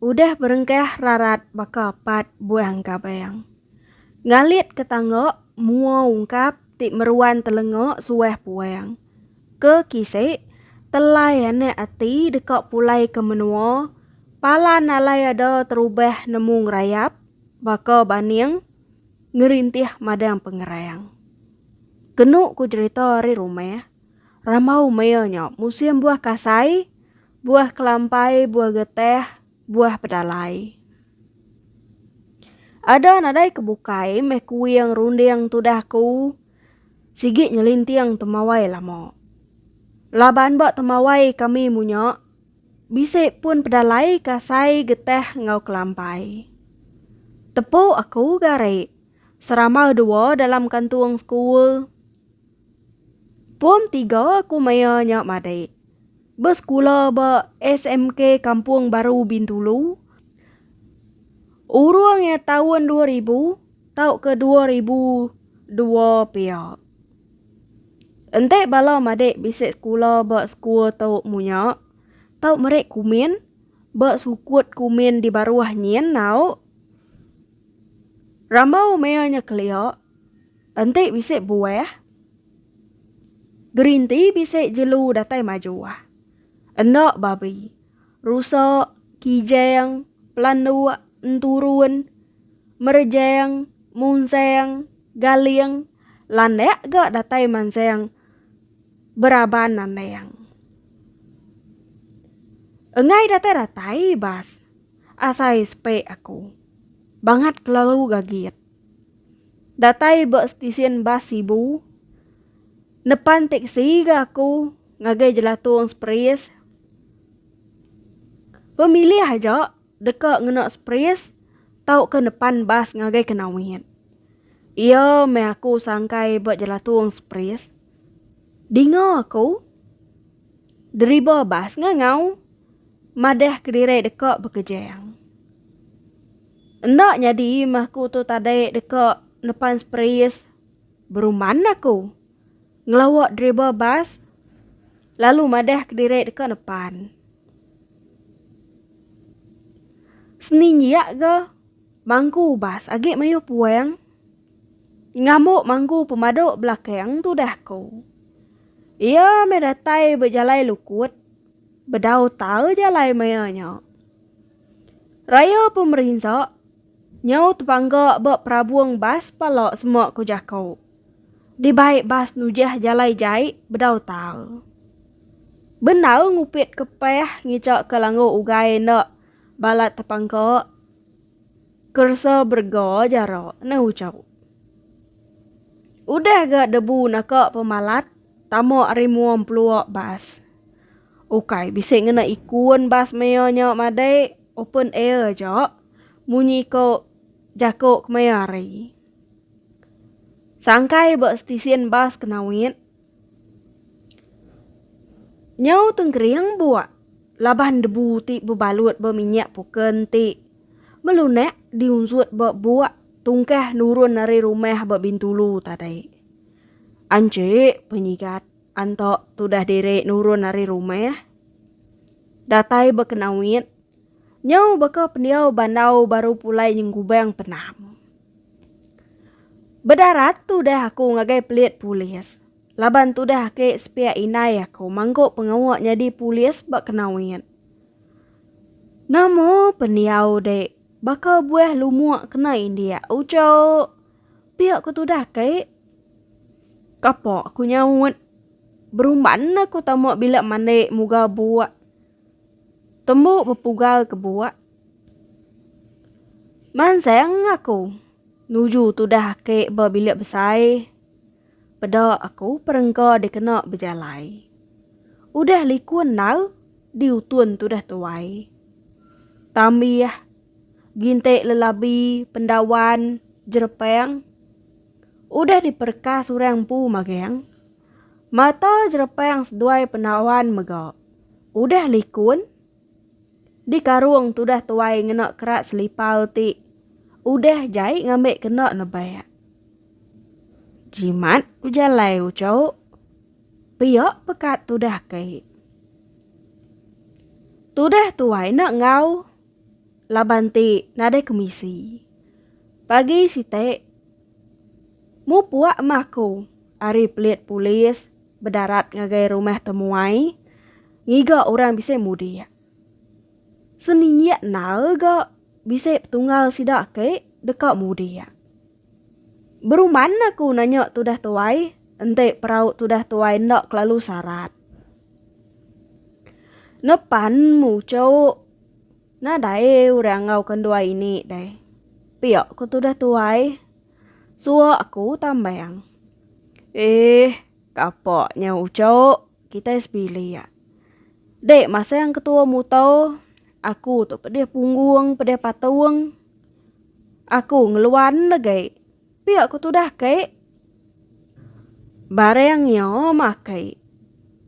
Udah berengkah rarat baka pat buah engkabang. Ngalit ke tangga mua ungkap ti meruan telenga suah puang. Ke kisi, telai anak ati deka pulai ke menua, palan alai ada terubah nemu ngerayap baka baning ngerintih madang pengerang. Kenu ku jerita ari rumah. Rambau mea nya musim buah kasai, buah kelampai, buah geteh, buah pedalai. Ada nadai ke bukai meh kuing runding tudah ku sigi nyelinting temawai lama. Laban ba temawai kami munya bisi pun pedalai, kasai, geteh enggau kelampai. Tepu aku gari, seramau dua dalam kantung sekul. Pom tiga aku maya nya madik. Besekula ba SMK Kampung Baru Bintulu. Urung iya taun dua ribu tauka dua ribu dua pia. Enti bala madik bisi sekula ba sekul tu munya tau meri kumin ba sukut kumin di baruh nyin au. Rambau maya nya kelia. Enti bisi buah. Gerinti bisi jelu datai majuah. Enda babi. Rusa, kijang, pelanduk, enturun, merejang, munsang, galing, landak ga datai mansang beraban nandang. Enggai datai-datai bas asai sepe aku. Bangat kelalu gagit. Datai ba stesen bas Sibu, nepan teksi ga aku ngagai Jelatung Spris. Pemilih aja deka ngena Spris tauka nepan bas ngagai Kenawit. Iya meh aku sangkai ba Jelatung Spris. Dinga aku, deriba bas ngangau madah kediri deka bekejang. Enda nyadi meh aku tu tadai deka nepan sprayers beruman aku. Ngelawa driver bas lalu madah kediri deka nepan. Seni nyiak ga mangku bas agi mayuh puang ngambu mangku pemadu belakang tudah aku. Iya meh datai bejalai lukut bedau tau jalai maya nya. Raya pemerinsa nyau tebangga ba perabung bas pala sema ku jako. Dibai bas nujah jalai jai bedau tau. Benau ngupit ke peh ngica ke langgu ugai enda balat tepangka keresa berega jara nang ucau. Udah ga debu naka pemalat tama ari mua empelua bas. Ukai bisi ngena ikun bas maya nya madai open air aja, munyi ko jako kemaya hari. Sangkai ba stesen bas ke Nawit, nyau tengkering buak laban debu ti bebalut ba minyak puken ti melunak diunsut ba buak tungkah nurun ari rumah ba Bintulu tadi. Anche penyigat. Antok tudah diri nurun ari rumah. Datai baka nawit. Nyau baka pendiau bandau baru pulai nyenggubang penam. Bedarat tudah aku ngagai pelit polis. Laban tudah aki sepiak indai aku mangku pengawa nyadi polis baka nawit. Nama pendiau dek baka buah lumuk kena indik. Ucok. Pia ku tudah kai. Kapa ku nyaut. Berumban na ku tama bila mandi muga buak. Tembu bepugal ke buak. Mansang aku nuju tudah kai ba bilik besai. Peda aku perengka dikena bejalai. Udah liku endau diutun tudah tuai. Tambih. Gintik lelabi pendawan jerepang udah diperekas orang empu magang. Mata jerepang seduai pendawan mega udah likun. Di karung tudah tuai ngena kerat selipar ti udah jai ngambi kena nebak. Jimat bejalai uchu pia pekat tudah kai. Tudah tuai enda enggau. laban ti nadai kemisi. Pagi sitik, mupuk meh aku ari pelit polis bedarat ngagai rumah temuai ngiga orang bisi mudik. Seninjik endar ga bisi petunggal sida ake deka mudik. Beruman aku nanya tudah tuai, enti perau tudah tuai enda kelalu sarat. Nepan muchok, nadai orang enggauka enduai ini deh. Pia ku tudah tuai. Suwa aku tambang. Eeh, kapa nya uchok. Kitai sebilik. Dek, masa yang ketua mutau, aku tu pedih punggung, pedih patung. Aku ngeluan legai. Pia ku tudah kai. Barang iya makai.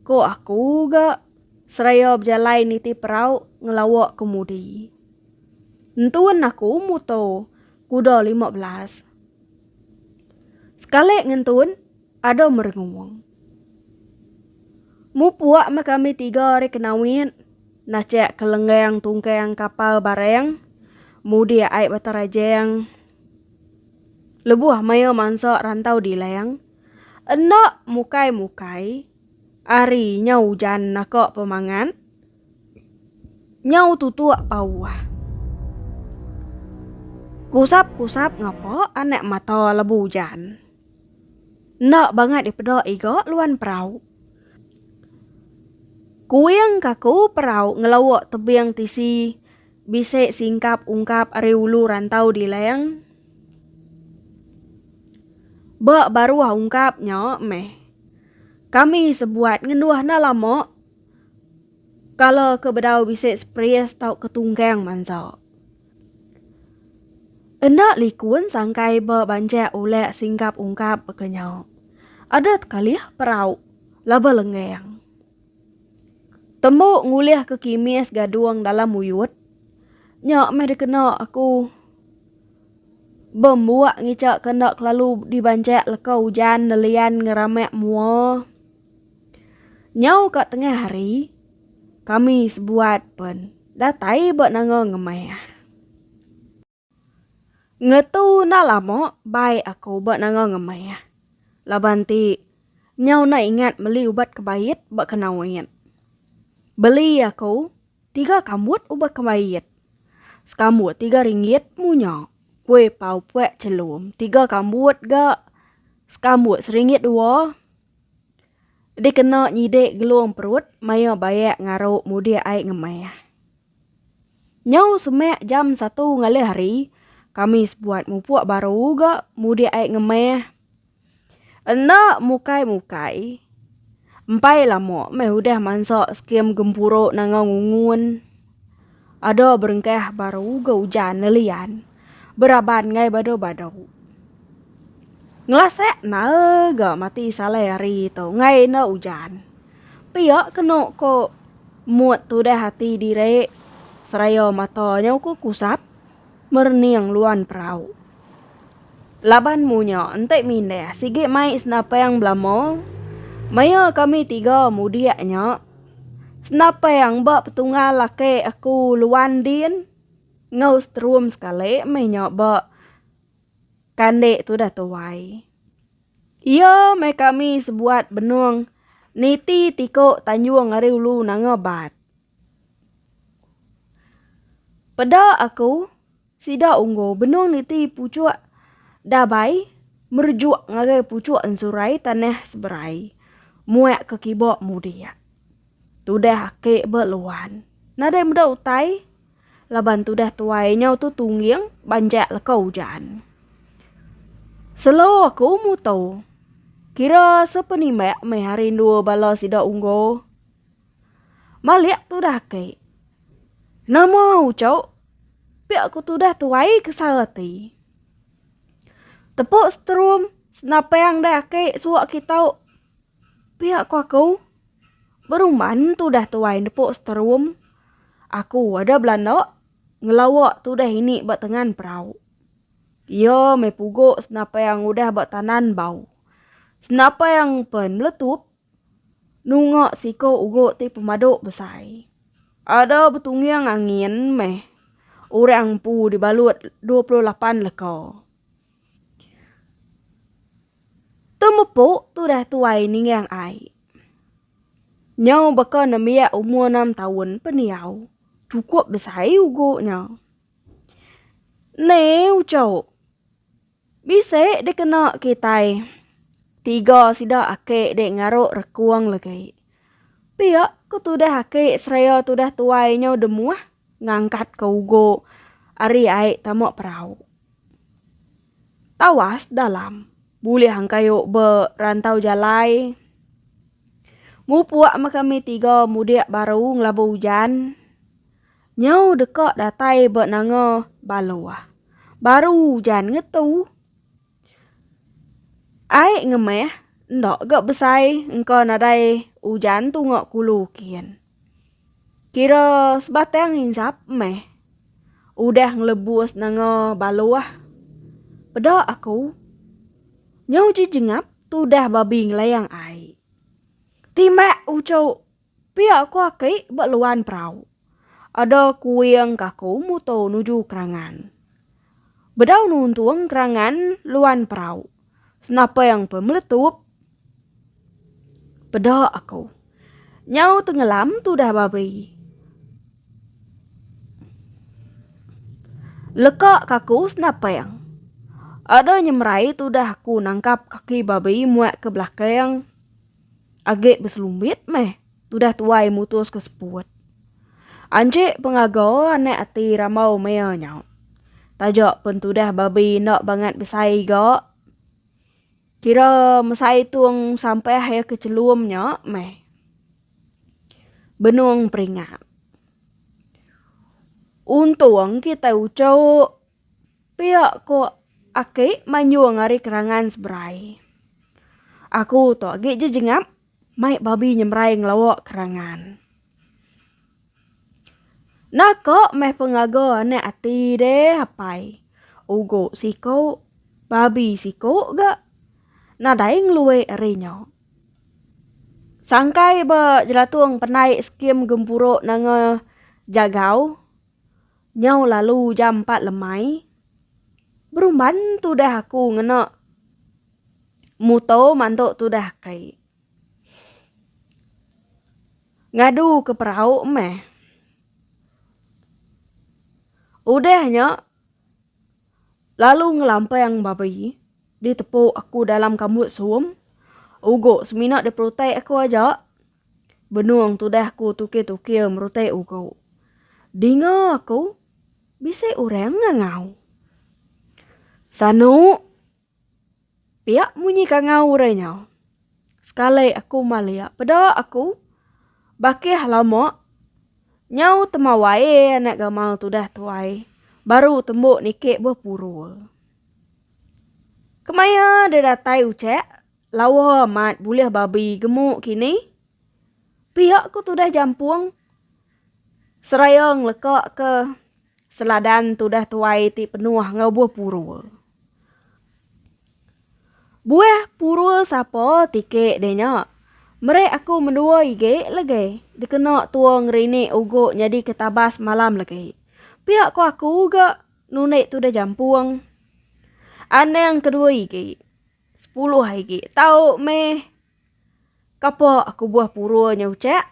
Ko aku ga seraya bejalai niti perau ngelawa kemudi. Entun aku muto kuda lima belas. Sekali ngentun ada merengung. Mupuk meh kami tiga ari Kenawit nachak ke lenggang tungkang kapal barang mudik ai Batang Rajang lebuh maya mansa rantau dilang. Enda mukai-mukai ari nya ujan naka pemangat. Nyau tutuk pauh. Kusap-kusap ngapa anak mata lebu ujan. Enda bangat dipeda iga luan perau. Kuing kaku perau ngelawa tebing tisi bisi singkap ungkap ari ulu rantau dilang. Ba baruh ungkap nya meh kami sebuat ngenduh enda lama. Kala ke bedau bisi spries tauka tunggang mansa. Enda likun sangkai ba banjak ulak singgap ungkap baka nya. Adat kalih perau laba lenggang. Tembu ngulih ke kimis gadung dalam muyut. Nya meh dikena aku bembuak ngica ke enda kelalu dibanjak leka ujan nelian ngeramak mua. Nyau ka tengah hari, kami sebuat pen datai ba nanga ngemah. Ngetu na lama bai aku ba nanga ngemah. Laban ti nyau na ingat meli ubat kebait ba kenoit. Beli aku tiga kambut ubat kebait. Sekambut tiga ringgit munya. Kui pau pek chelum tiga kambut ga sekambut seringgit dua. Dikena nyidik gelung perut maya bayak ngaru mudik ai ngemah. Nyau semak jam satu ngalih hari, kami sebuat mupuk baru ga mudik ai ngemah. Enda mukai-mukai, empai lama meh udah mansa skim gempuru nangau ngungun. Ada berengkah baru ga ujan lelian beraban ngai badu-badu. Ngelasak nae ga mati salai hari tu ngai enda ujan. Pia kenu ko mut tudah ati diri seraya mata nyau ko kusap merening luan perau. Laban munya enti mindah sigi mai Senapang belama maya kami tiga mudik nya Senapang ba petunggal laki aku Luan Din enggau Setrum sekali meh nya ba kandi tudah tuai. Iya meh kami sebuat benung niti tiku tanjung ari ulu nanga bat. Peda aku. Sida Unggu benung niti puchuk Dabai merejuk ngagai puchuk Ensurai tanah Seberai muak ke kiba mudik. Tudah aki ba luan. Nadai meda utai laban tudah tuai nyau tu tungging banjak leka ujan. Selo aku mutu. Kira sepenimbak meh hari endua bala sida Unggu. Malik tudah ke. Nama ucau? Pia ku tudah tuai ke sara ti. Tepuk strum senapang dah ke suak kitau. Pia ku aku. Beruman tudah tuai nepuk strum. Aku ada belanda ngelawa tudah ini ba tengan perau. Ia me pugu senapang udah ba tanan bau. Senapang pen meletup. Nunga siko ugu ti pemadu besai. Ada betungyang angin meh orang empu dibalut dua puluh lapan leka. Temepu tudah tuai ninggang ai. Nyau baka nembiak umur enam taun pendiau, chukup besai ugu nya. Neu chau. Bisi dikena kitai. Tiga sida aki dek ngaruk rekung legi. Pia ku tudah aki seraya tudah tuai nyau demuah ngangkat ke ugu ari ai tama perau. Tawas dalam bulih angkayu be rantau jalai. Mupuk me kami tiga mudik baru ngelabu ujan. Nyau deka datai ba nanga Baloah. Baru ujan ngetu. Ai ngemeh enda ga besai engka nadai ujan tunga kulu kin. Kira sebatang insap meh udah ngelebus nanga Baloah. Peda aku. Nyau jejengap tudah babi ngelayang ai. Timak uchu. Pia ko aki ba luan perau. Ada kuing kaku muto nuju kerangan. Bedau nuntung kerangan luan perau. Senapeng pe meletup. Peda aku. Nyau tengelam tudah babi. Leka kaku senapeng. Ada nyemerai tudah aku nangkap kaki babi muat ke belakang. Age beselumbit meh tudah tuai mutus ke seput. Anjik pengaga anak ati ramau maya nya. Taja pun tudah babi enda bangat besai ga. Kira mesai tung sampah iya ke chelum nya meh. Benung peringat. Untung kitai uchu. Pia ko aki manyung ari kerangan seberai. Aku tu agi je jengap mai babi nyemrai ngelawa kerangan. Naka meh pengaga anak ati deh apai. Ugo siko babi siko ga nadai ngelue ari nya. Sangkai ba jelatung penai skim gempuru nanga jagau Nyau lalu jam empat lemai, berumban tudah aku ngena muto mantu tudah kai. Ngadu ke perau meh. Udah nya, lalu ngelampang babi ditepu aku dalam kambut suum. Ugo semina diperutai aku aja. Benung tudah ku tukir-tukir merutai ugu. Dinga aku, bisi orang ngangau. Sanu! Piak munyi kangau orang nya. Sekali aku malik, peda aku. Bakih lama, nyau temawai anak gamal tudah tu ai. Baru tembu niki bepuru. Kemaya deh datai ucak? Lawa amat bulih babi gemuk kini. Piak ku tudah jampung. Seraya ngelekaka seladan tudah tuai ti penuh enggau buah purul. Buah purul sapa tike deh nya. Meri aku mendua ige lege dikena tua ngerini ugu nyadi ke tabas malam lege. Piak ku aku ga nundi tudah jampung. Anang kedua ige. Sepuluh agi tau meh. Kapa aku buah pura nya ucak?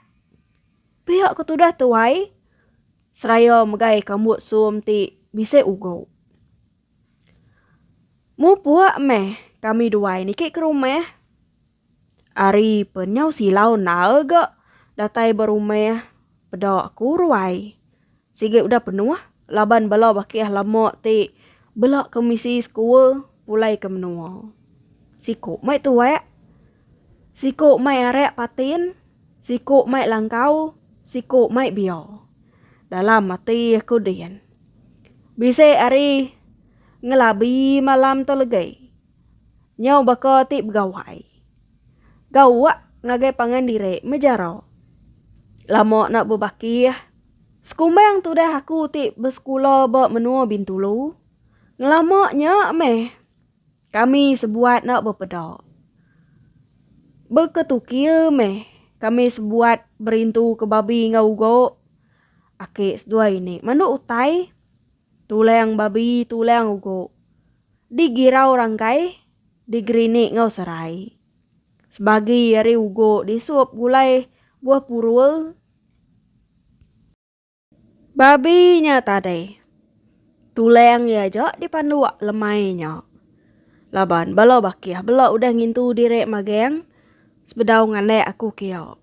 Pia ku tudah tuai seraya megai kambut sum ti bisi ugu. Mupuk meh kami duai niki ke rumah. Ari pen nyau silau endar ga datai ba rumah peda aku ruai. Sigi udah penuh laban bala bakih lama ti bela ke misi sekua pulai ke menua. Siku mai tuak, siku mai arak patin, siku mai langkau, siku mai bia. Dalam ati aku din. Bisi ari ngelabi malam tu legai. Nyau baka ti begawai. Gauk ngagai pangan diri mejara. Lama enda bebakih. Sekumbang tudah aku ti besekula ba menua Bintulu. Ngelama nya meh kami sebuat enda bepeda. Beketukil meh kami sebuat berintu ke babi enggau ugok. Aki seduai ini mandu utai. Tulang babi tulang ugu. Di girau rangkai di gerinik enggau serai. Sebagi ari ugu di sup gulai buah purul. Babi nya tadai. Tulang iya aja di panduk lemai nya. Laban bala bakih bela udah ngintu diri magang sebedau ngandek aku kia.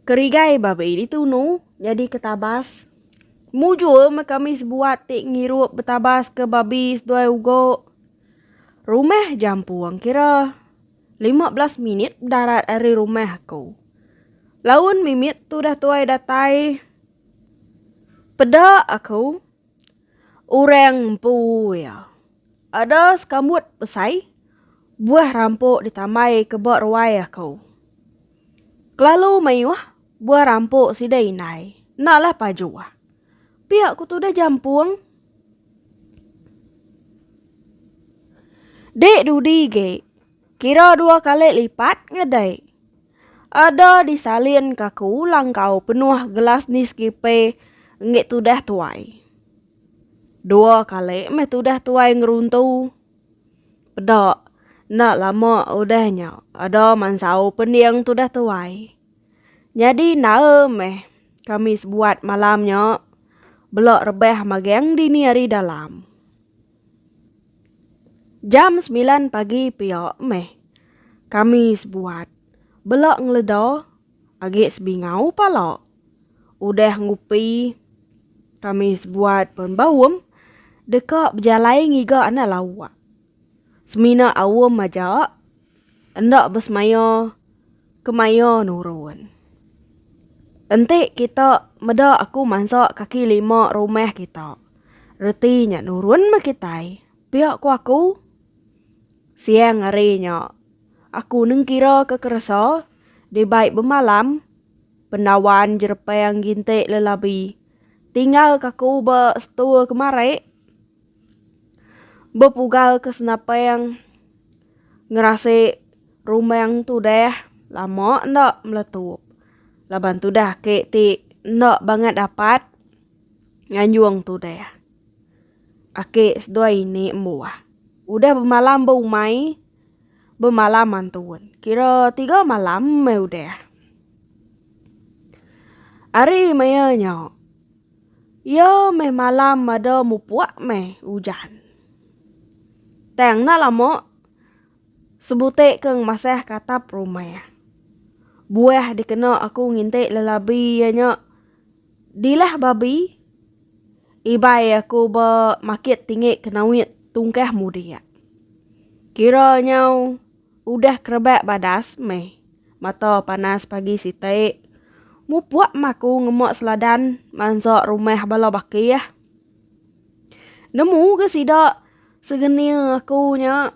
Kerigai ba bai ditu unu nyadi ke tabas. Mujur meh kami sebuat ti ngirup betabas ke babi seduai ugo. Rumah jampung kira lima belas minit bedarat ari rumah aku. Laun mimit tudah tuai datai peda aku. Orang empu iya. Ada sekambut besai buah rampok ditambai ke ba ruai aku. Kelalu mayuh buah rampok sida indai enda lah pajuh. Pia ku tudah jampung. Dek dudi ge kira dua kali lipat ngedai. Ada disalin ka ku langkau penuh gelas Nescafe enggi tudah tuai. Dua kali meh tudah tuai ngeruntu. Peda, enda lama udah nya ada mansau pending tudah tuai. Nyadi nae meh kami sebuat malam nya bela rebah magang dini hari dalam. Jam semilan pagi pia meh kami sebuat bela ngeleda agi sebingau pala. Udah ngupi kami sebuat pen baum deka bejalai ngiga anak lawa. Semina aum aja. Enda besemaya kemaya nurun. Enti kita meda aku mansa kaki lima rumah kita, reti nya nurun meh kitai, pia ku aku. Siang hari nya, aku nengkiraka keresa dibai bemalam pendawan jerepang ginti lelabi tinggalka aku ba setua kemari bepugalka senapang. Ngerasik rumbang tudah lama enda meletup. Laban tudah ke ti enda bangat dapat nganjung tudah. Aki seduai ini embuah. Udah bemalam beumai, bemalam antun. Kira tiga malam meh udah. Ari maya nya. Iya meh malam mada mupuk meh ujan. Tang enda lama, sebutik ke ngemasah ke atap rumah. Buah dikena aku ngintik lelabi iya nya dilah babi. Ibai aku ba makit tinggi ke nawit tungkah mudik. Kira nyau. Udah kerebak badas meh. Mata panas pagi siti. Mupuk mah aku ngemuk seladan mansuk rumah bala bakih. Nemu ke sida segenil aku nya.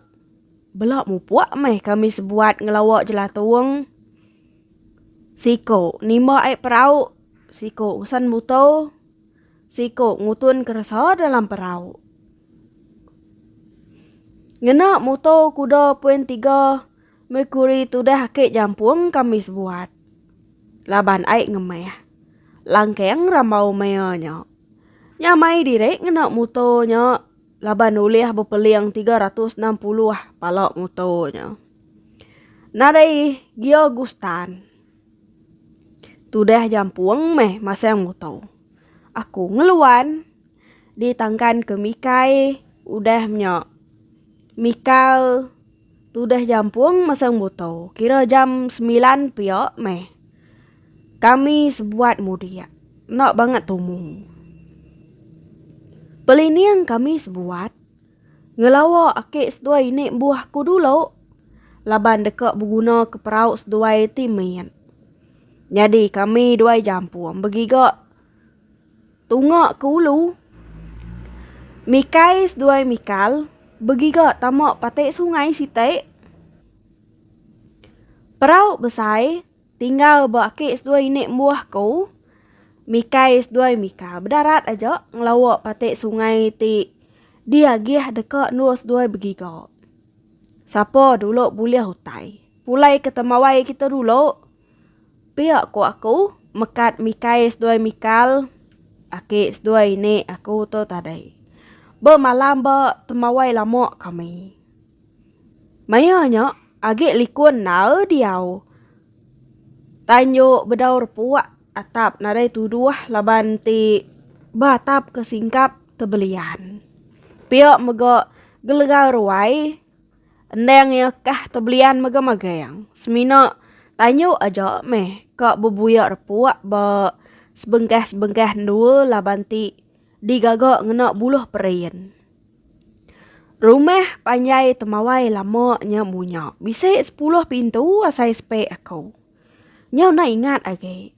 Bela mupuk meh kami sebuat ngelawa jelatung. Siku nimba ai perau, siku usan buto. Siku ngutun keresa dalam perau. Ngena moto kuda poin tiga, Mercury tudah ake jampung kami sebuat. Laban ai ngemeh. Langkeng rambau mea nya. Nya mai diri ngena moto nya laban ulih bepeling 360 pala moto nya. Nadai Gio Gustan. Tudah jampung meh masang muto. Aku ngeluan di tangkan ke mikai udah nya. Mikal tudah jampung masang muto kira jam semilan pia meh. Kami sebuat mudik. Enda bangat tumu. Pelining kami sebuat. Ngelawa aki seduai ini embuh ku dulu laban deka beguna ke perau seduai ti mit. Nyadi kami duai jampung begiga tunga ke ulu. Mikai seduai Mikal begiga tama pati sungai siti. Perau besai. Tinggal ba aki seduai ini embuh ku Mikai seduai Mika bedarat aja ngelawa pati sungai ti diagih deka endur seduai begiga. Sapa dulu bulih utai. Pulai ke temawai kita dulu. Pia ku aku mekat Mikai seduai Mikal aki seduai ini aku tu tadi. Bemalam ba temawai lama kami. Maya nya agi likun nae diau. Tanjo bedaur puak atap nadai tuduh laban ti ba atap ke singkap tebelian. Pia mega gelegau ruai endang iya kah tebelian mega magang. Semina tanjo aja meh ka bebuya repuak ba sebengkah-sebengkah endur laban ti. digaga ngena buluh perin. Rumah panjai temawai lama nya munya bisi sepuluh pintu asai sepe aku. Nya enda ingat agi.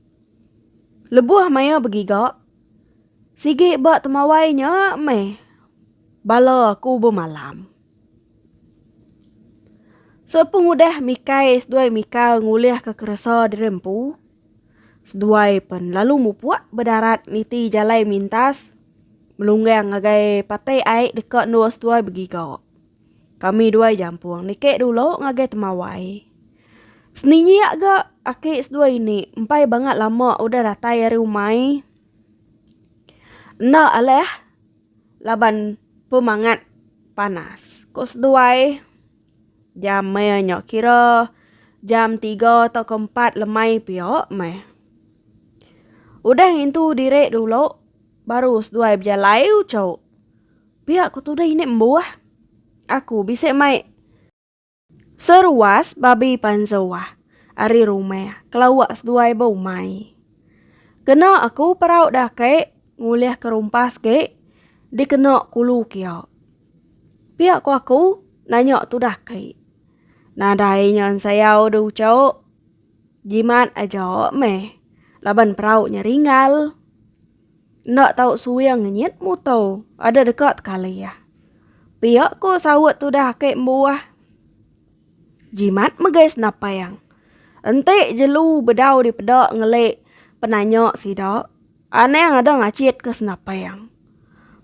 Lebuh maya begiga, sigi ba temawai nya meh bala aku bemalam. Sepengudah Mikey seduai Mika ngulihka keresa diri empu, Seduai pen lalu mupuk bedarat niti jalai mintas melunggang ngagai patai ai deka endur seduai begiga. Kami duai jampung niki dulu ngagai temawai. Seninjak ga aki seduai ini empai bangat lama udah datai ari umai. Enda alih laban pemangat panas, ku seduai. Jam meh nya kira jam tiga tauka empat lemai pia meh. Udah ngintu diri dulu, baru seduai bejalai ucau. Pia ku tudai ini embuh. Aku bisi mai seruas babi panzuah ari rumah kelawa seduai beumai. Kena aku perau dake ngulih ke rumpas ge dikena kulu kia. Pia ko aku nanya tudah kai. Nadai nya ensayau de uco. Jimat aja meh laban perau nya ringal. Enda tau suing nyit muto ada deka tekalih. Pia ko saut tudah ake mbuah. Jimat megai senapang. Enti jelu bedau dipeda ngeli penanya sida. Anang ada ngachit ke senapang.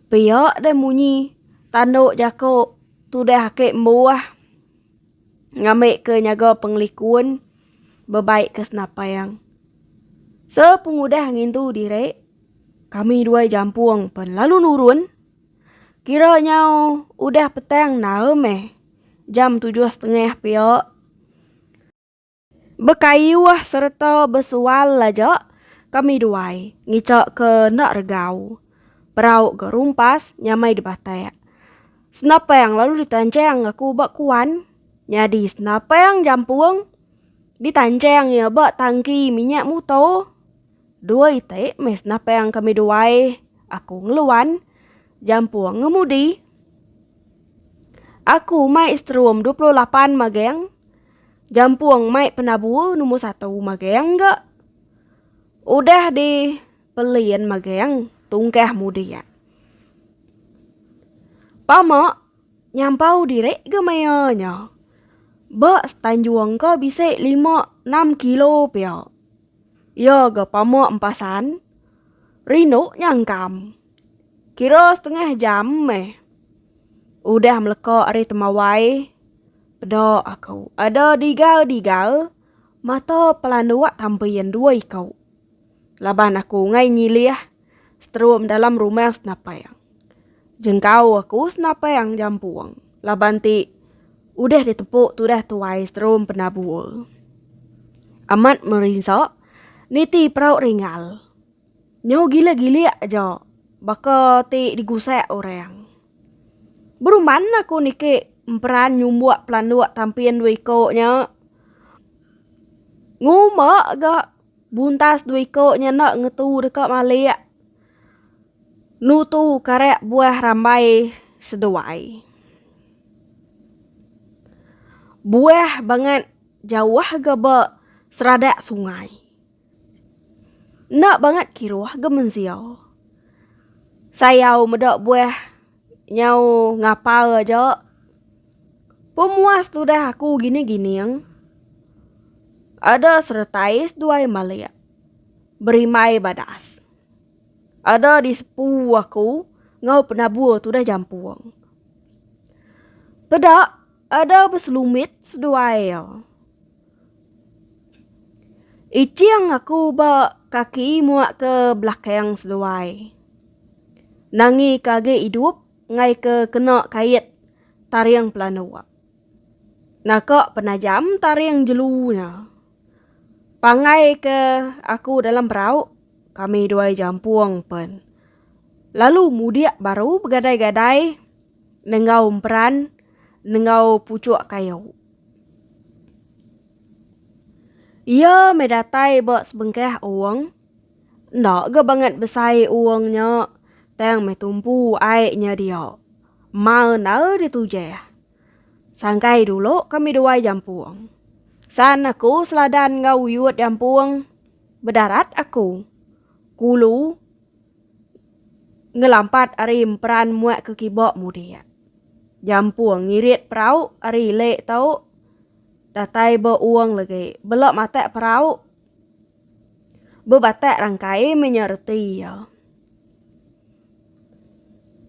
Pia deh munyi tanduk jaku tudah ake embuh ngambik ke nyaga pengelikun bebaik ke senapang. Sepengudah ngintu diri kami dua jampung pun lalu nurun kira nyau udah petang nae meh jam tujuh setengah pia. Bekayuh sereta besual aja kami duai ngica ke enda regau. Perau ga rumpas nyamai dibatak. Senapang lalu ditanchang aku ba kuan. Nyadi senapang jampung ditanchang iya ba tangki minyak mutor. Dua iti meh senapang kami duai aku ngeluan jampung ngemudi. Aku mai seterum dua puluh lapan magang. Jampung mai penabu numur satu magang ga. Udah di pelin magang tungkah mudik. Pama nyampau diri ga maya nya. Ba setanjung ka bisi lima enam kilo pia. Ya ga pama empasan rindu nyangkam. Kira setengah jam meh udah meleka ari temawai. Peda aku ada diga-diga mata pelanduk tampi yang dua iku. Laban aku ngai nyilih seterum dalam rumah senapang. Jengkau aku senapang jampung laban ti udah ditepuk tudah tuai seterum penabur. Amat merinsa niti perau ringal. Nyau gila gilik aja baka ti digusak orang. Beruman aku niki emperan nyumbuk pelanduk tampin dua iko nya. Ngumba ga buntas dua iko nya enda ngetu deka malik nutu karak buah rambai seduai. Buah bangat jauh ga ba seradak sungai. Enda bangat kiruh ga menzia. Sayau meda buah nyau ngapal aja. Pemuas tudah aku gini gining. Ada seretai seduai malik berimbai badas. Ada di sepu aku enggau penabur tudah jampung. Peda ada beselumit seduai. Iching aku ba kaki muak ke belakang seluai. Nangi ke agi idup ngai ke kena kait taring pelanduk. Naka penajam taring jelu nya. Pangai ke aku dalam perau kami duai jampung pen. Lalu mudik baru begadai-gadai nenggau emperan nenggau puchuk kayu. Iya meh datai ba sebengkah owong. Enda ga bangat besai owong nya, tang meh tumpu ai nya dia. Mal enda ditujah. Sangkai dulu kami duai jampung. San aku seladan enggau uyut jampung, bedarat aku. Kulu. Ngelampat ari emperan muak ke kiba mudik. Jampung ngirit perau ari ile tu datai ba uong legi bela matak perau bebatak rangkai meh nya reti iya.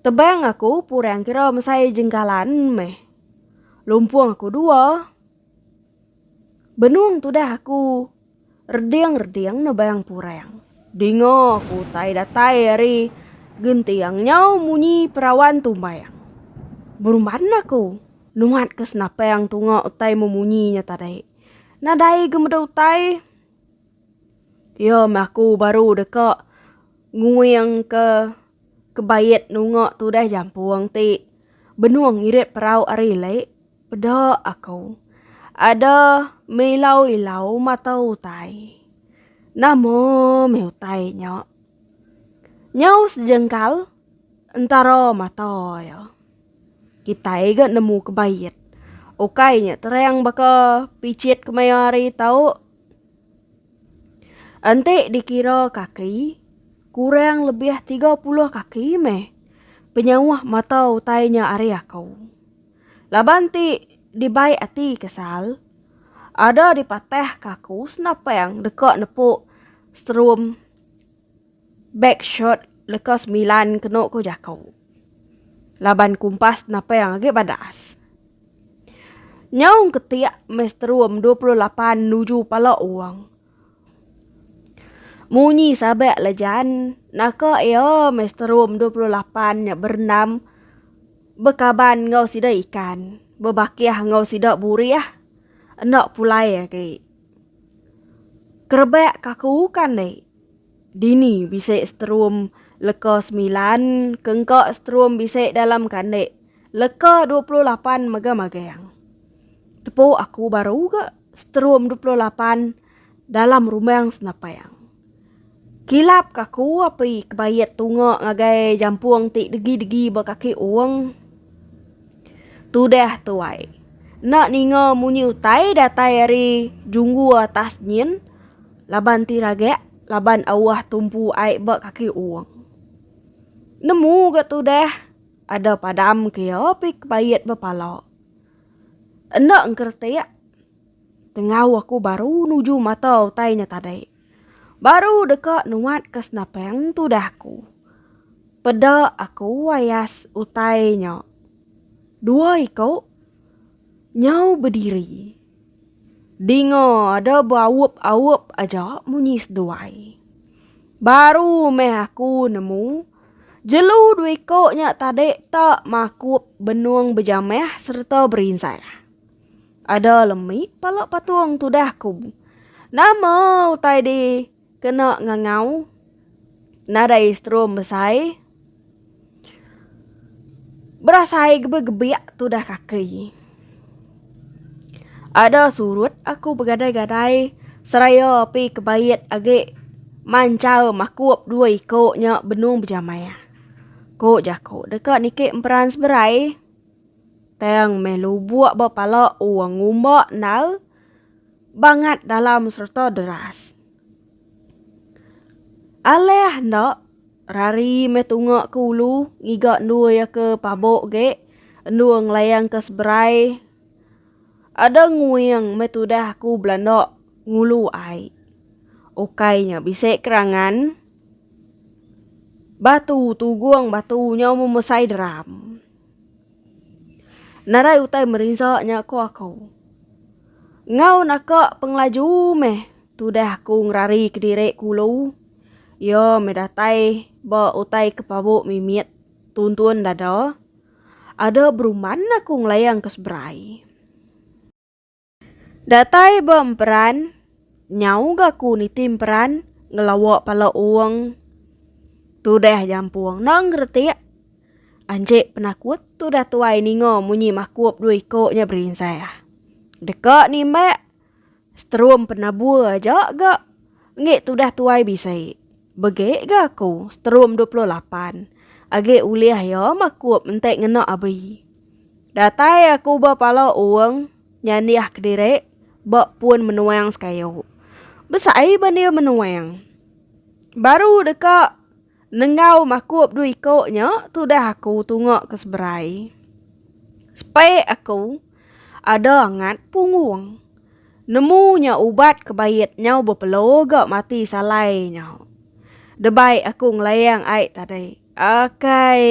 Tebang aku purang kira mesai jengkalan meh lumpung aku dua. Benung tudah aku reding-reding nebang purang. Dinga ku utai datai ari genting nyau munyi perawan tumbang. Berumban aku nuhat ke senapang tunga utai memunyi nya tadi. Nadai ga meda utai iya meh aku baru deka nguing ke kebait nunga tudah jampung ti benung irit perau ari lek. Peda aku. Ada meh ilau-ilau mata utai. Nama meh utai nya? Nyau sejengkal entara mata iya. Kitai ga nemu ke bait. Ukai nya terang baka pichit kemaya hari tau. Enti dikira kaki, kurang lebih tiga puluh kaki meh penyauh mata utai nya ari aku. Laban ti dibai ati kesal, ada dipatahka aku senapang deka nepu serum beg shirt leka semilan kenu ku jaku. Laban kumpas senapang agi badas. Nyau engketik meh serum dua puluh lapan nuju pala orang. Munyi sabak la Jan, naka iya meh seterum dua puluh lapan nya berendam bekaban enggau sida ikan, bebakih enggau sida burih enda pulai agi. Kerebak ka aku kan deh. Dini bisi seterum leka semilan ke engka seterum bisi dalam kandik leka dua puluh lapan mega magang. Tepu aku baru ga. Strum dua puluh lapan dalam rumang senapang. Kilap ka ku api kebayet tunga ngagai jampung ti degi-degi ba kaki uong. Tudah tuai. Enda ninga munyi utai datai ari junggu atas nyin laban ti ragak laban auh tumpu ai ba kaki uong. Nemu ga tudah ada padam ke iya api kebayet ba pala. Enda engkeretik. Tengau aku baru nuju mata utai nya tadi. Baru deka nuat ke senapang tudah aku. Peda aku ayas utai nya. Dua iku nyau bediri. Dinga ada beaup-aup aja munyi seduai. Baru meh aku nemu. Jelu dua iko nya tadi ta makup benung bejamah sereta berinsah. Ada lemi pala patung tudah ku. Nama utai di kena ngangau nadai strum besai berasai gebegebiak tudah kaki. Ada surut aku begadai-gadai seraya api kebait agi manchal makup dua iko nya benung bejamai. Ko jako deka niki emperan seberai tang meh lubok ba pala wang ngumba endar bangat dalam serta deras. Alih enda. Rari meh tunga ke ulu ngiga endur iya ke pabok ge endur ngelayang ke seberai ada nguing meh tudah aku belanda ngulu ai. Ukai nya bisi kerangan batu tugung batu nyau memesai deram. Nadai utai merinsa nya ko aku. Enggau naka pengelaju meh tudah aku ngerari kediri ke ulu. Iya meh datai ba utai ke pabu mimit tuntun dada. Ada beruman aku ngelayang ke seberai. Datai ba emperan nyau ga aku niti emperan ngelawa pala uong tu deh jampung enda ngeretik. Anji penakut tu dah tuai ninga munyi makup dua iko nya berinsah. Deka nimbak. Sterum penabur aja ga. Enggi tudah tuai bisi. Begi ga aku sterum dua puluh lapan. Agi ulih iya makup enti ngena abi. Datai aku ba pala Ong nyandiah kediri ba pun menuang sekayu. Besai ba dia menuang. Baru deka. Nenggau makup dua iko nya tudah aku tunga ke seberai. Sepek aku ada angat punggung. Nemu nya ubat ke bait nyau bepelo ga mati salai nya. Debai aku ngelayang ai tadi. Akai.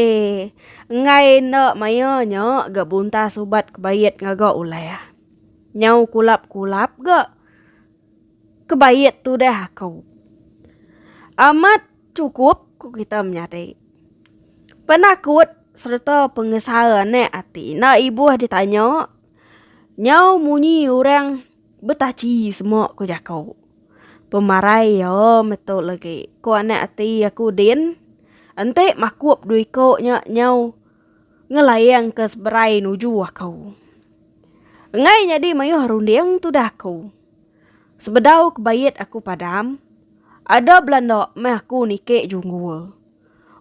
Enggai enda maya nya ga buntas ubat ke bait ngaga ulah. Nyau kulap-kulap ga. Kebaik tudah aku. Amat chukup ku kita menyadi. Penakut sereta pengesal anak ati enda ibuh ditanya nyau munyi orang betachi semua ku jaku. Pemarai iya metu lagi ku anak ati aku din enti makup dua iku nya nyau. Ngelaing ke seberai nuju aku. Enggai nyadi mayuh runding tudah aku. Sebedau ke bait aku padam. Ada belanda meh aku niki junggul.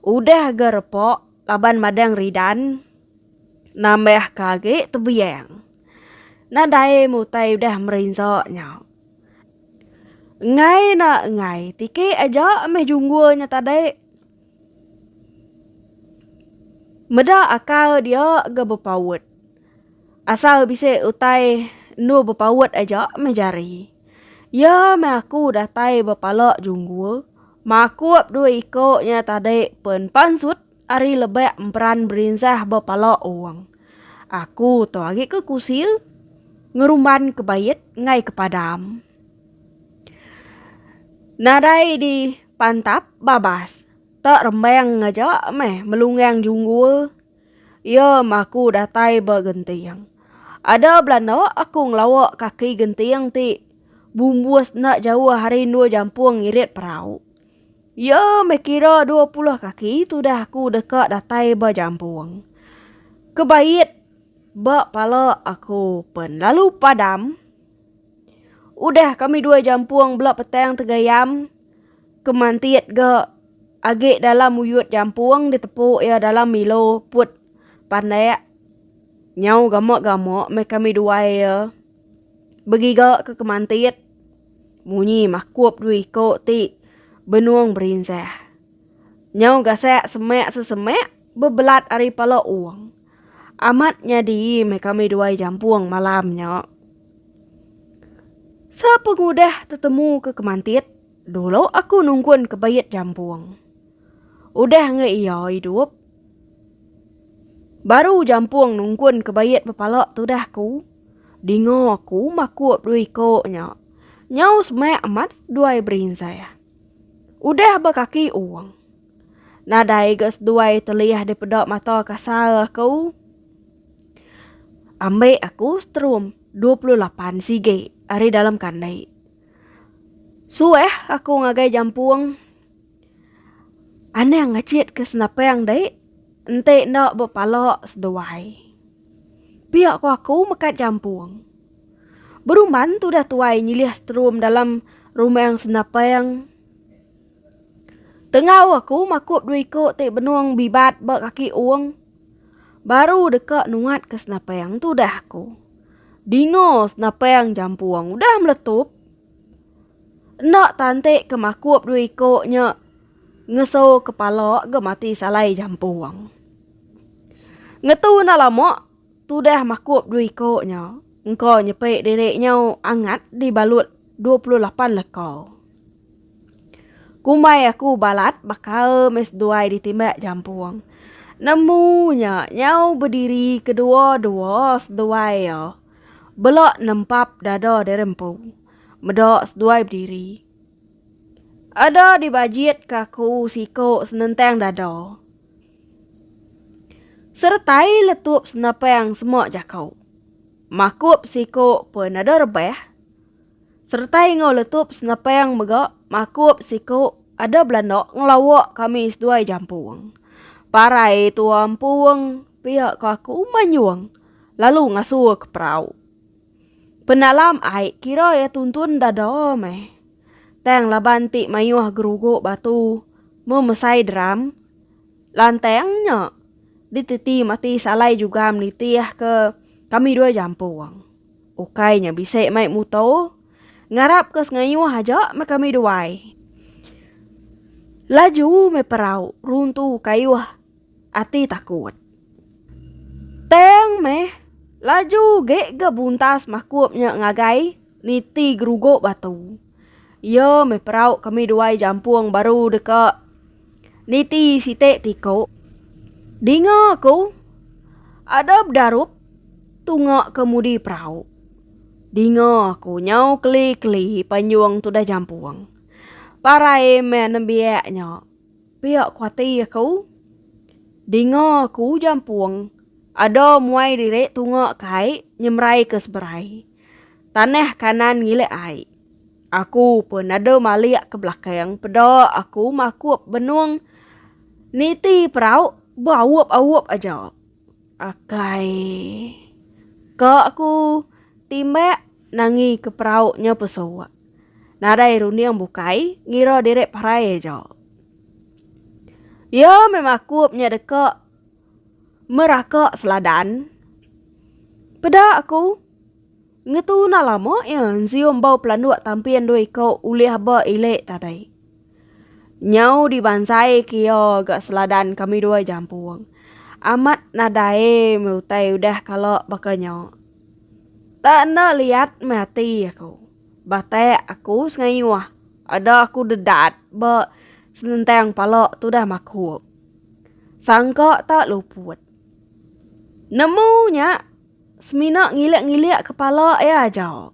Udah aga repok laban madang ridan. Nambah ke agi tebiang. Nadai mutai udah merinsa nya. Enggai na enggai tiki aja meh junggul nya tadi. Meda akal dia ga bepaut. Asal bisi utai endur bepaut aja meh jari. Iya meh aku datai bepala junggul makup dua iko nya tadi pen pansut ari lebak emperan berinsah bepala owang. Aku tu agi ke kusil ngerumban kebait engai kepadam. Nadai di. Pantap babas. Tak rembang ngaja meh melunggang junggul. Iya meh aku datai ba genting. Ada belanda aku ngelawa kaki genting ti bumbus enda jauh ari endur jampung ngirit perau. Iya meh kira dua puluh kaki tudah aku deka datai ba jampung. Kebait ba pala aku pen lalu padam. Udah kami dua jampung bela petang tegayam ke mantit ga agi dalam uyut jampung ditepu iya dalam milo put pandak nyau gama gama meh kami dua iya begiga ke kemantit munyi makup dua iko ti benung berinsa nyau gasak semak sesemak bebelat ari pala ong. Amat nyadi meh kami duai jampung malam nya. Sepengudah tetemu ke kemantit, dulu aku nungkun ke bait jampung. Udah enggau iya idup, baru jampung nungkun ke bait bepala tudah ku, dinga ku makup dua iko nya. Nyau semak amat duai berinsah. Udah ba kaki ong. Nadai ga seduai teliah dipeda mata kasar aku. Ambi aku strum dua puluh lapan sigi ari dalam kandai. Suah aku ngagai jampung. Anang ngachit ke senapang dek. Enti enda ba pala seduai. Pia ko aku mekat jampung. Beruman tudah tuai nyilih strum dalam rumang senapang. Tengau aku makup dua iko ti benung bibat ba kaki ong. Baru deka nuat ke senapang tu udah aku. Dinga senapang jampung udah meletup. Enda tante ke makup dua iko nya ngeso kepala ga mati salai jampung. Ngetu enda lama tudah makup dua iko nya engka nyepi diri nyau angat dibalut dua puluh lapan leka. Kumbai aku balat bakal meh seduai ditimbak jampung. Nemu nya nyau bediri kedua-dua seduai iya. Bela nempap dada diri empu. Meda seduai bediri. Ada dibajitka aku siku senentang dada. Seretai letup senapang semak jaku. Makup siku pun ada rebah. Seretai enggau letup senepang mega makup siku ada belanda ngelawa kami seduai jampung. Parai tua empung pia ke aku manyung lalu ngasu ke perau. Penalam ai kira ia tuntun dada meh. Tang laban ti mayuh gerugu batu memesai drum lantang nya diteti mati salai jugam nitih ke kami dua jampung. Ukai nya bisi mai muto. Ngarap ke sengayuh aja meh kami duai. Laju meh perau runtu kayuh ati takut. Tang meh laju ge ga buntas makup nya ngagai niti gerugo batu. Iya meh perau kami duai jampung baru deka niti siti tiku. Dinga ku, ada bedarup tunga kemudi perau. Dinga ku nyau keli-keli panjung tudah jampung. Parai meh nembiak nya. Pia ku ati aku. Dinga ku jampung ada muai diri tunga kai nyemerai ke seberai. Tanah kanan ngilik ai. Aku pun nadau malik ke belakang peda aku makup benung niti perau beaup-aup aja. Akai. Ka aku timbak nangi ke perau nya pesu. Nadai runding bukai ngira diri parai aja. Ya meh makup nya deka. Meraka seladan. Peda aku. Ngetu na lama iya nzium bau pelanduk tampin dua iko ulih aba ilik tadai. Nyau dibanzai ke iya ga seladan kami dua jampung. Amat nadai meh utai udah kala baka nya. Tak enda liat meh ati aku. Batek aku sengayuh. Ada aku dedat ba senentang pala tudah makup. Sangka tak luput. Nemu nya semina ngilik-ngilik kepala iya aja.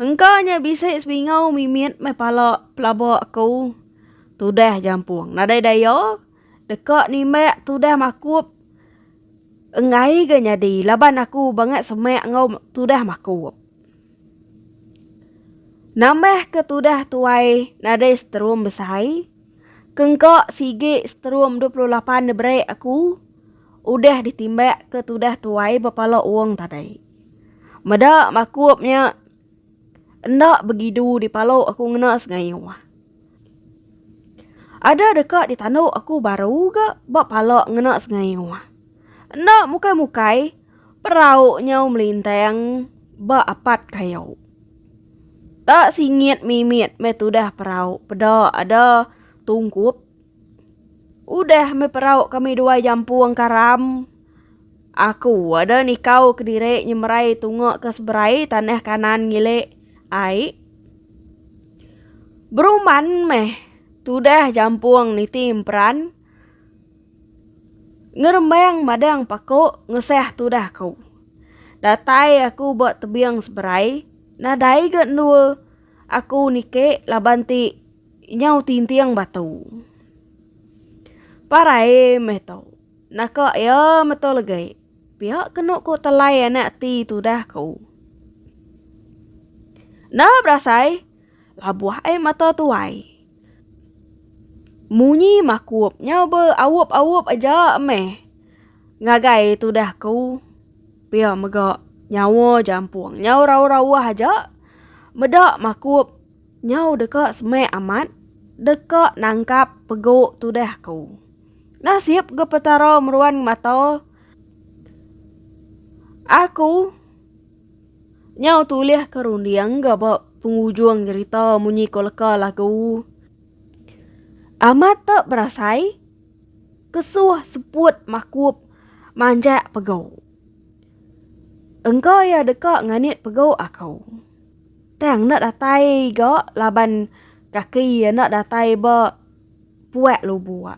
Engka nya bisi sebingau mimit meh pala pelaba aku tudah jampung nadai daya deka nimbak tudah makup enggai ga nyadi laban aku bangat semak enggau tudah makup. Nambah ke tudah tuai nadai seterum besai. Kengkak sigi seterum dua puluh lapan neberik aku udah ditimbak ke tudah tuai bepala ong tadi. Meda makup nya enda begidu dipalu aku ngena sengayuh. Ada deka ditandu aku baru ga ba pala ngena sengayuh. Enda mukai-mukai. Perau nyau melintang ba apat kayu. Ta singit mimit meh tudah perau peda ada tungkup. Udah meh perau kami duai jampung karam. Aku ada nikau kediri nyemerai tunga ke seberai tanah kanan ngili ai. Beruman meh tudah jampung niti emperan. Ngerembang madang paku ngesah tudah ku. Datai aku ba tebing seberai, nadai ga endua aku niki laban ti nyau tinting batu. Parai meh tu, naka iya metu legi pia kenu ku telai anak ti tudah ku. Enda berasai. Labuh ai mata tuai. Munyi makup nya be aup aup aja meh. Ngagai tudah ku. Pia mega nyawa jampung nyau rauh rauh aja. Meda makup nyau deka semek amat deka nangkap pegu tudah ku. Nasip ga petara meruan mata aku. Nyau tulih ke runding ga ba pengujung nyerita munyi ko leka lagu. Amat te berasai kesuh seput makup manjak pego. Engka ia deka nganit pego ako. Tang enda datai ga laban kaki ia enda datai ba puak lubok.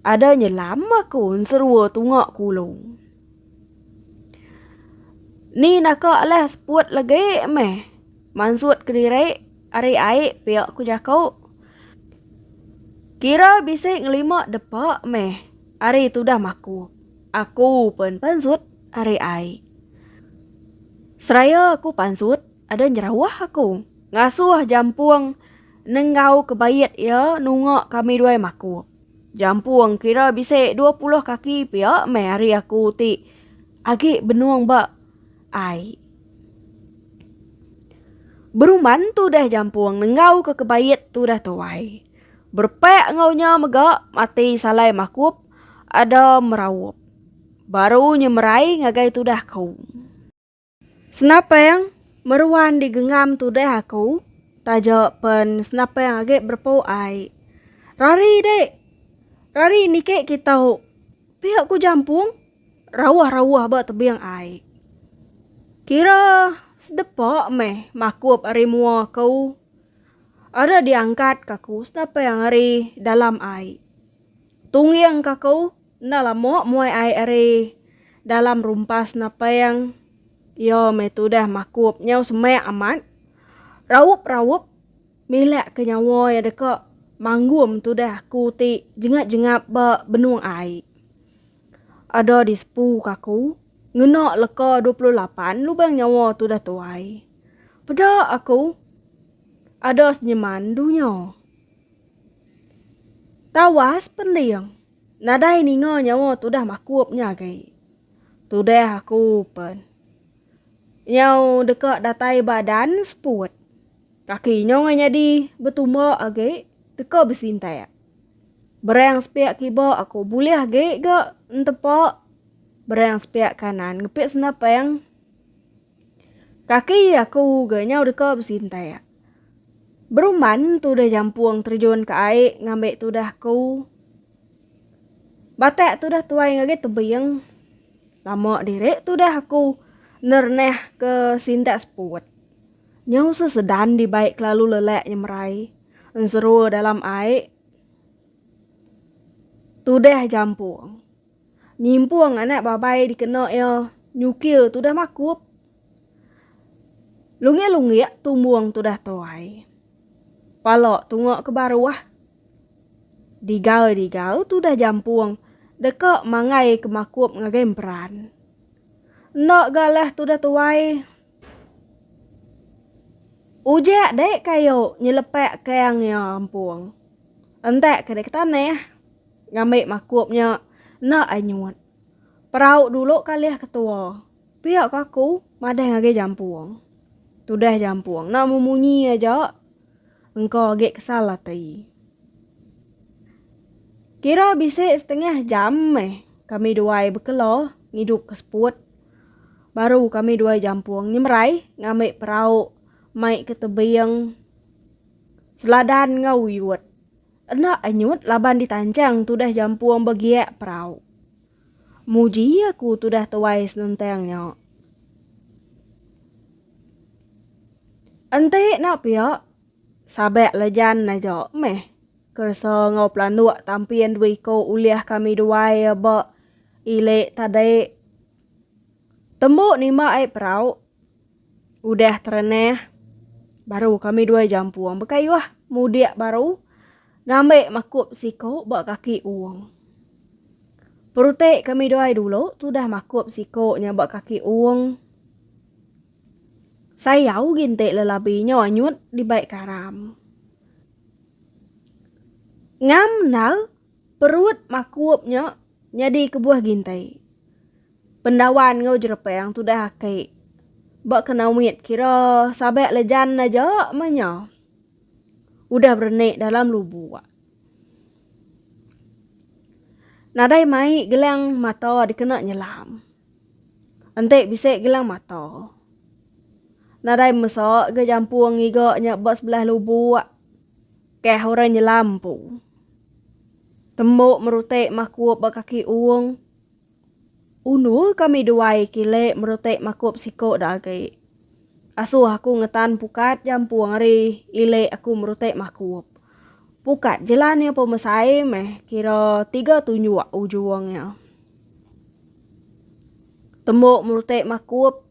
Ada nyelam aku enserua tunga kulu. Ni naka alah seput legi meh. Mansut kediri ari ai pia ku jaku. Kira bisi ngelima depa meh ari tudah maku. Aku pen pansut ari ai. Seraya aku pansut ada nyerawah aku. Ngasuh jampung nenggau kebait iya nunga kami duai maku. Jampung kira bisi dua puluh kaki pia meh hari aku ti agi benung ba ai. Beruman tudah jampung nenggau ke kebait tudah tuai. Berpak enggau nya mega mati salai makup ada meraup. Baru nyemerai ngagai tudah ku. Senapang meruan di gengam tudah aku taja pen senapang agi berepu ai. Rari dik. Rari niki kitu. Pia ku jampung rauh-rauh ba tebing ai. Kira sedepa meh makup ari mua aku. Ada diangkat ka ku senapang ari dalam ai. Tungging ka ku Enda lama muai ai ari dalam rumpas naping iya meh tudah makup nyau semak amat. Raup-raup milak ke nyawa iya deka manggum tudah aku ti jengap-jengap ba benung ai. Ada di sepu ke aku ngena leka dua puluh lapan lubang nyawa tudah tuai. Peda aku ada senyeman dunya. Tawas pending. Nadai ninga nyawa tudah makup nya agi. Tudah aku pen. Nyau deka datai ba dan seput. Kaki nya ngai nyadi betumba agi deka besintak. Berang sepiak kiba aku bulih agi ga entepa berang sepiak kanan ngepit senapang. Kaki aku ga nyau deka besintai. Beruman tudah jampung terjun ke ai ngambi tudah aku. Batak tudah tuai ngagai tebing. Lama diri tudah aku nernah ke sintak seput. Nyau sesedan dibai kelalu lelak nyemerai enserua dalam ai tudah jampung. Nyimpung anak babai dikena iya nyukir tudah makup. Lunggik-lunggik tumbung tudah tuai. Pala tunga ke baruh. Digal-digal tudah jampung deka manggai ke makup ngagai emperan. Enda ga lah tudah tuai. Ujak dek kayu nyelepak kang iya empung. Entak ke dek ke tanah. Ngambi makup nya enda ai nyut. Perau dulu kalih ketua. Pia ko aku madah ngagai jampung. Tudah jampung enda memunyi aja engka agi kesal ati. Kira bisi setengah jam meh kami duai bekela ngidup ke seput. Baru kami duai jampung nyemerai ngambi perau mai ke tebing Seladan enggau Uyut. Enda anyut laban ditanchang tudah jampung begiak perau. Muji aku tudah tuai senentang nya. Enti enda pia, sabak lejan aja meh keresa enggau pelanduk tampin dua iku ulih kami duai ba ili tadi. Tembu nimba ai perau. Udah terenah, baru kami dua jampung bekayuh mudik baru ngambil makup siku ba kaki uung. Perutik kami dua dulu tudah makup siku nya ba kaki uung. Sayau gintik lelabi nya anyut dibai karam. Ngam nal Perut makup nya nyadi kebuah gintai. Pendawan enggau jerepang tudah aki ba kenawit kira sabak lejan aja meh nya udah berenik dalam lubuk. Nadai mai gelang mata dikena nyelam. Enti bisi gelang mata. Nadai mesa ga jampung ngiga nya ba sebelah lubuk. Keh orang nyelam empu. Tembok merutik makup ba kaki uong. Undur kami duai kilik merutik makup siko da agi. Asuh aku ngetan pukat jampung ari ilik aku merutik makup. Pukat jelan iya pemesai meh kira tiga tunjuk ujung iya. Tembok merutik makup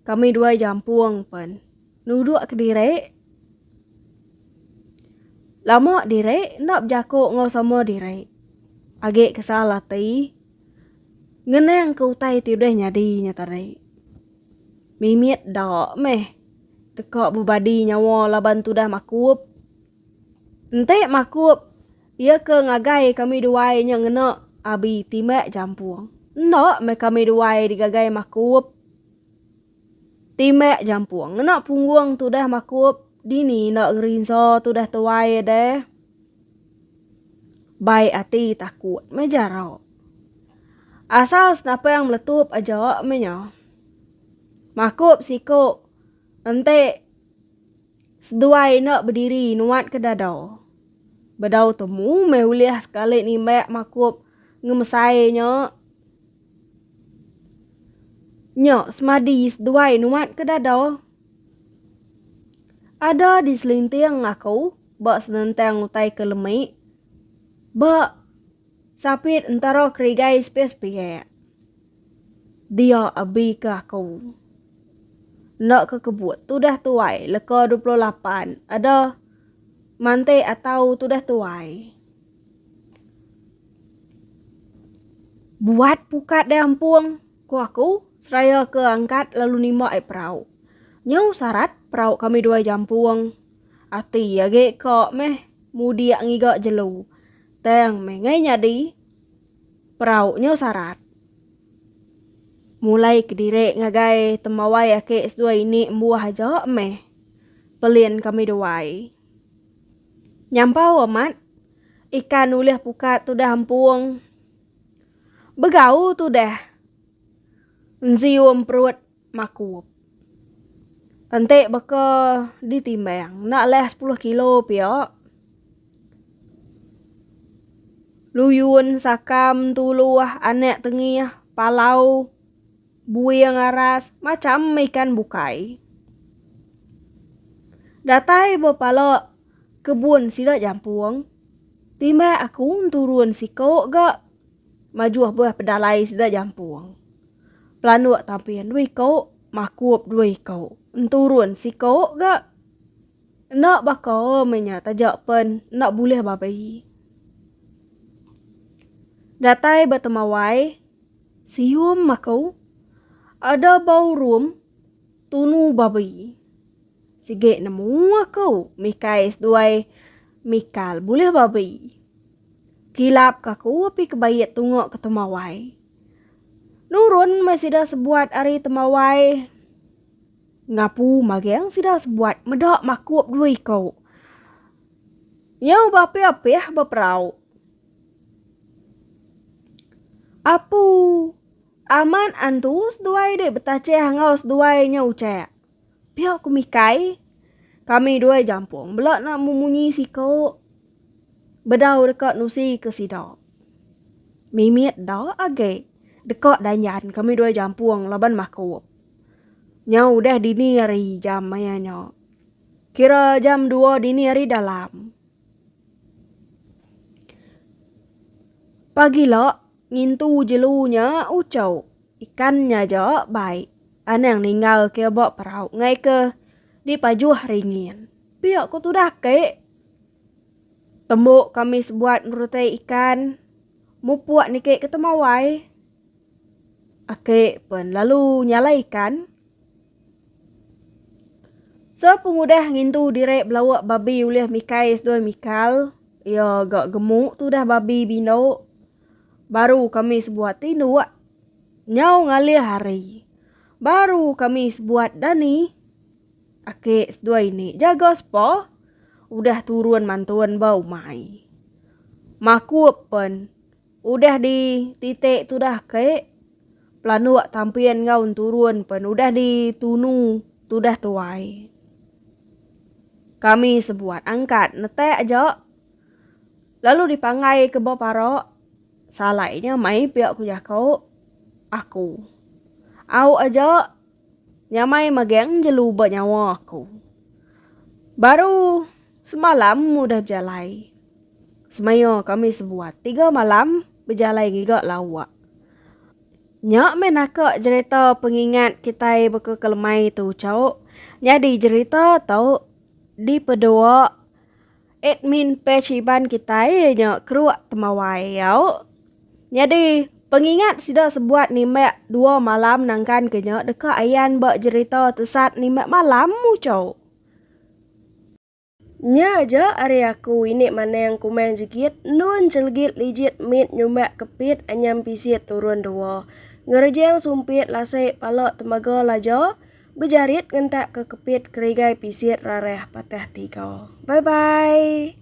Kami duai jampung pen. Nuduk kediri. Lama diri enda bejaku enggau sama diri. Agi kesal ati. Ngenang ke utai ti udah nyadi nya tadi. Mimit da meh. Teka bebadi nyawa laban tudah makup. Enti makup Iya ke ngagai kami duai nya ngena abi timek jampung. Enda meh kami duai digagai makup timek jampung. Ngena punggung tudah makup dini enda ngerinsa tudah tuai deh. Baik ati takut meh jarok. Asal senapang meletup aja meh nya. Makup siku enti. Seduai enda bediri nuat ke dadau. Bedau temu meh ulih sekali nimbak makup ngemesai nya. Nya semadi seduai nuat ke dadau. Ada di selinting aku ba senentang utai ke lemi ba sapit entara kerigai sepiak-sepiak. Dia abi ke aku. Enda ke kebut tudah tuai leka dua puluh lapan ada mantik atau tudah tuai. Buat pukat deh ampung, ku aku seraya ke angkat lalu nimba ai perau. Nyau sarat perau kami duai jampung. Ati agi ka meh mudik ngiga jelu. Tang meh ngai nyadi. Perau nyo sarat. Mulai kediri ngagai temawai aki seduai ini embuah aja meh pelin kami duai. Nyampau amat ikan ulih pukat tudah empung. Begau tudah. Enzio emperut. Makup. Enti baka ditimbang, enda leh sepuluh kilo pia. Luyun, Sakam, Tuluh, Anak Tengih, Palau, Buing Aras, macam ikan bukai. Datai ba pala kebun sida jampung, timbak aku turun siko ga Majuh beuh pedalai sida jampung. Pelanduk tampin dua iko, makup dua iko, enturun siko ga. Enda baka meh nya taja pen enda bulih babai. Datai ba temawai sium makau ada ba urum tunu babai. Sigi nemu aku mikai seduai mikal bulih babai. Kilap ka ku api ke bait tunga ke temawai. Nurun meh sida sebuat ari temawai. Ngapu mageng sida sebuat meda makup dua iku. Nyau beapih-apih beperau. Apu amat antu seduai dek betachih enggau seduai nya uchek. Pia ku Mikai, Kami dua jampung bela nak memunyi siku bedau deka nusi ke sida. Mimit da agi deka danjan kami dua jampung laban makup. Nya udah dini hari jam maya nya. Kira jam dua dini hari dalam. Pagila Ngintu jelu nya ucau. Ikan nya aja bai. Anang ninggal ke ba perau ngai ke di pajuh ringin. Pia ko tudah ke. Tembu kami sebuat ngerutai ikan. Mupuk niki ke temawai. Aki pen lalu nyalai ikan. So pengudah ngintu direk belawak babi ulih mikai seduai mikal iya ga gemu tu dah babi bino baru kami sebuat tindok nyau ngalih hari baru kami sebuat dani ake seduai ni jaga sepa udah turun mantun ba umai makup pen. Udah di titik tudah ke pelanduk tampin enggau turun pen udah di tunu tudah tuai. Kami sebuat angkat netak aja lalu di panggai ke ba para salai nya mai pia ku jako aku. Au aja Nyamai magang jelu ba nyawa aku. Baru semalam udah bejalai. Semaya kami sebuat tiga malam bejalai ngiga lawak. Nya meh naka jerita pengingat kitai baka kelemai tu chauk nyadi jerita tu dipedua. Admin page Iban kitai nya keruk temawai au. Nyadi, pengingat sida sebuat nimbak dua malam nangkan ke nya deka ayan ba jerita Tesat Nimbak Malam Muchau. Nya aja ari aku ini manang kumang jegit nun chelegit lijit mit nyumbak kepit anyam pisit turun dua. Ngerejang sumpit lasik pala tembaga laja. Bejarit ngentak ke kepit kerigai pisit rarah patah tiga. Bye bye.